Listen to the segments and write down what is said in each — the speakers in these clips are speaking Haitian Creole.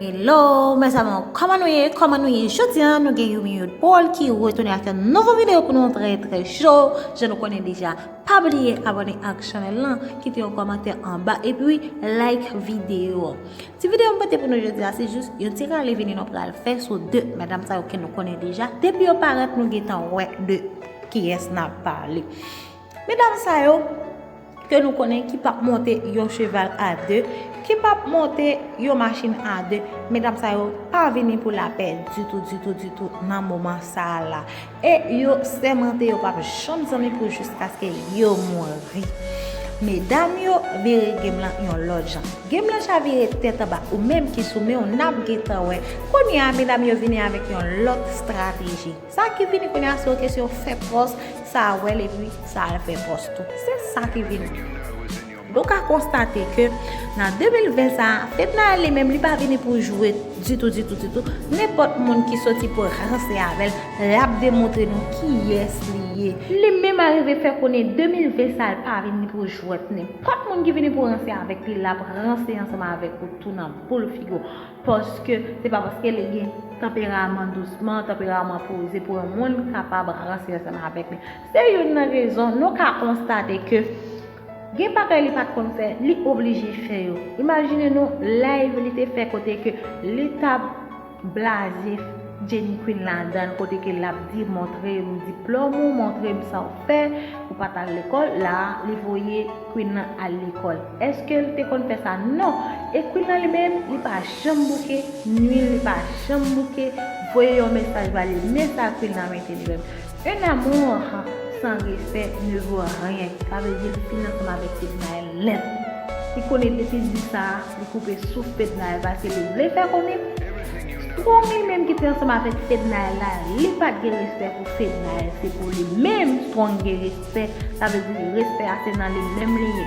Hello mes amour koman nou ye koman nou ye jodi an nou gen yon minute pol ki retounen ak yon nouvo video pou nou trè trè cho je nou konnen deja pa bliye abone ak chanel lan kite yon komantè anba epi like video ti video mwen te pou nou jodi an se jous yon ti rale vini nou pral fè sou de medam sa yo ke nou konnen deja depi yo paret nou gen tan wè de kiyes nan pale. Medam sa yo ke nou konnen ki pap monte yon cheval a 2, ki pap monte yon machin a 2, medam sa yo pa vini pou lapè ditou, ditou, ditou nan moman sa a la. E yo sèmante yo pap janm zanmi pou jiskaske yo mouri. Medam yo vire game lan yon lòt jan. Game lan chavire tèt anba. Ou menm ki sou men w nap gentan wè. Kounye a medam yo vini avèk yon lòt strateji. Sa ki vini kounye a se yon kesyon fè pòs, sa a wèl epi sa al fè pòs tou. Se sa ki vini. Nou ka konstate ke nan 2020 sa a, Fednaelle li menm li pa vini pou jwe ditou ditou ditou. Nenpòt moun ki soti pou ranse avè l, l ap demontre nou kiyès li ye. Li menm arive fè konnen 2020 sa a l pa vini pou jwèt. Nenpòt moun ki vini pou ranse avèk li, l ap ranse ansanm avèk ou tou nan boul figi w. Paske se pa paske li gen tanperaman dousman, tanperaman poze pou yon moun kapab ranse ansanm avèk li. Se youn nan rezon nou ka konstate ke gen bagay li pat konn fè, li oblije fè yo. Imajine nou live li te fè kote ke li tap blaze Jenny Queen ladann, kote ke lap di montre m diplòm ou, montre m sa w fè, ou pat al lekòl, la li voye. Queen lan al lekol eskel te konn fè sa non e Queen lan li menm li pa janm bouke nwil li pa janm bouke voye yon mesaj ba li men sa Queen lan mete li menm un amour sans respect ne vaut rien sa vle di li fin ansanm avèk Fednaelle nèt li konnen depi l di sa li koupe souf Fednaelle paske li vle fè konnen strong li menm ki te ansanm avèk Fednaelle la li pat gen respè pou Fednaelle se pou li menm strong gen respè. Respè, sa vle di respè a se nan li menm li ye.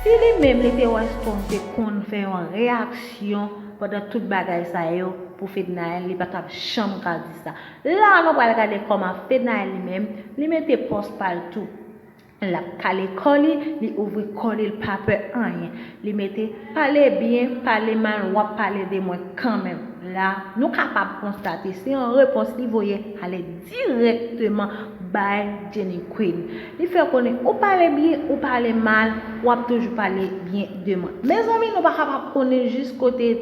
Si li menm li te wè Strong te konn fè yon reyaksyon pandan tout bagay sa yo pou Fednaelle li pa tap janm ka di sa. La a nou pral gade kòman Fednaelle li menm li mete pòz pa l tou. Lap kale kò li, li ouvri kò li, l pa pè anyen. Li mete, Pale byen, pale mal, w ap pale de mwen kanmenm. La, nou kapab konstate se yon repons li voye ale dirèkteman bay Jenny Queen. Li fè konnen ou pale byen, ou pale mal, w ap toujou pale byen de mwen. Mezanmi, nou pa kapab konnen jis kote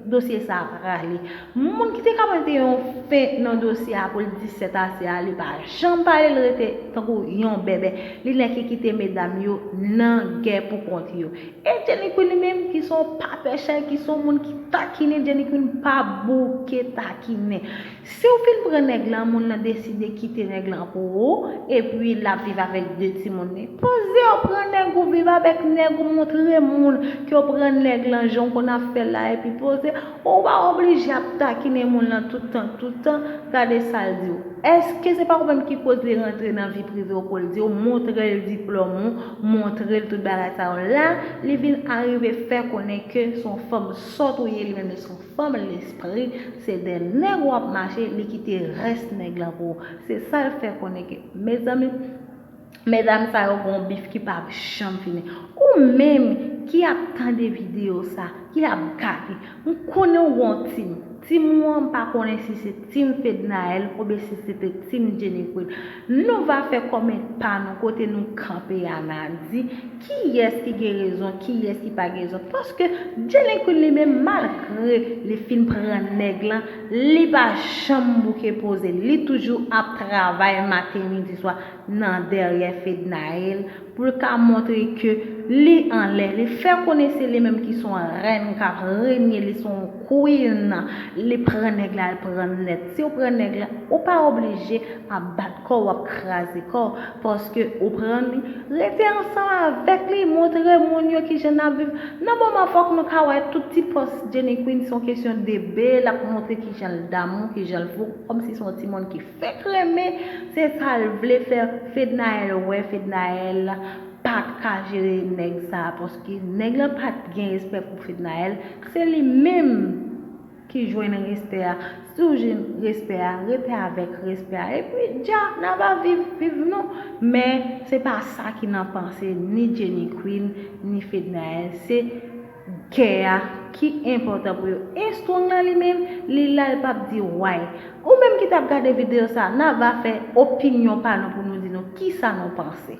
dosye sa a prale. Moun ki te ka mete yon fen nan dosye a pou l di sèt ase a li pa janm pale l rete tankou yon bèbè li nèke kite medam yo nan gè pou kont yo e Jenny Queen li menm ki son pa pè chè ki son moun ki takinen Jenny Queen pa bouke takinen si w fin pran nèg lan moun lan deside kite nèg lan pou ou epi l ap viv avèk 2 timoun li poze w pran nèg ou viv avèk nèg ou montre moun ke w pran nèg lan jan w konn ap fè la epi poze. Ou pa oblije ap takinen moun lan tout tan tout tan, gade sal diw. Eske se pa ou menm ki koz li rantre nan vi privew poul diw montrel diplòm ou, montrel tout bagay sa yo. La li vin arive fè konnen ke son fanm sòt ou ye li menm li son fanm lespri, se dè nèg wap mache li kite rès nèg lan pou ou. Se sal fè konnen ke mezanmi. Medam sa yo gon bif ki pap janm fini. Ou menm ki ap tande video sa, ki ap gade, m konnen w gon team. Team ou an m pa konnen si se team Fednaelle oubyen si se te team Jenny Queen. Nou va fè kòment pa nou kote nou kanpe a na di kiyès ki gen rezon, kiyès ki pa gen rezon. Paske Jenny Queen li menm malgre li fin pran nèg lan, li pa janm bouke poze l. Li toujou ap travay maten, midi, swa. nan dèryè Fednaelle pou l ka montre ke li anlè, li fè konnen se li menm ki s on rèn k ap renye, li s on Queen, li pran nèg la l pran nèt. Si w pran nèg la, ou pa oblije ap bat kò w, ap kraze kò w, paske ou pran li, rete ansanm avèk li, montre moun yo ki jan n ap viv. Nan moman fòk nou ka wè tout ti pòs Jenny Queen s on kesyon de be, l ap montre ki jan l damou, ki jan l fou, kòmsi s on timoun ki. Fek renmen se sal vle fer fednaelle wè fednaelle pat ka jere neg sa paske neg lan pat gen respè pou fednaelle se li menm ki jwenn respè a si w jwenn respè a rete avek respè a epi dja nan va viv viv nou men se pa sa ki nan panse ni jenny queen ni fednaelle se Kè a ki enpòtan pou yo e strong la li menm li la l pap di way ou menm ki tap gade video sa na va fè opinyon pa nou pou nou di nou kisa nou panse.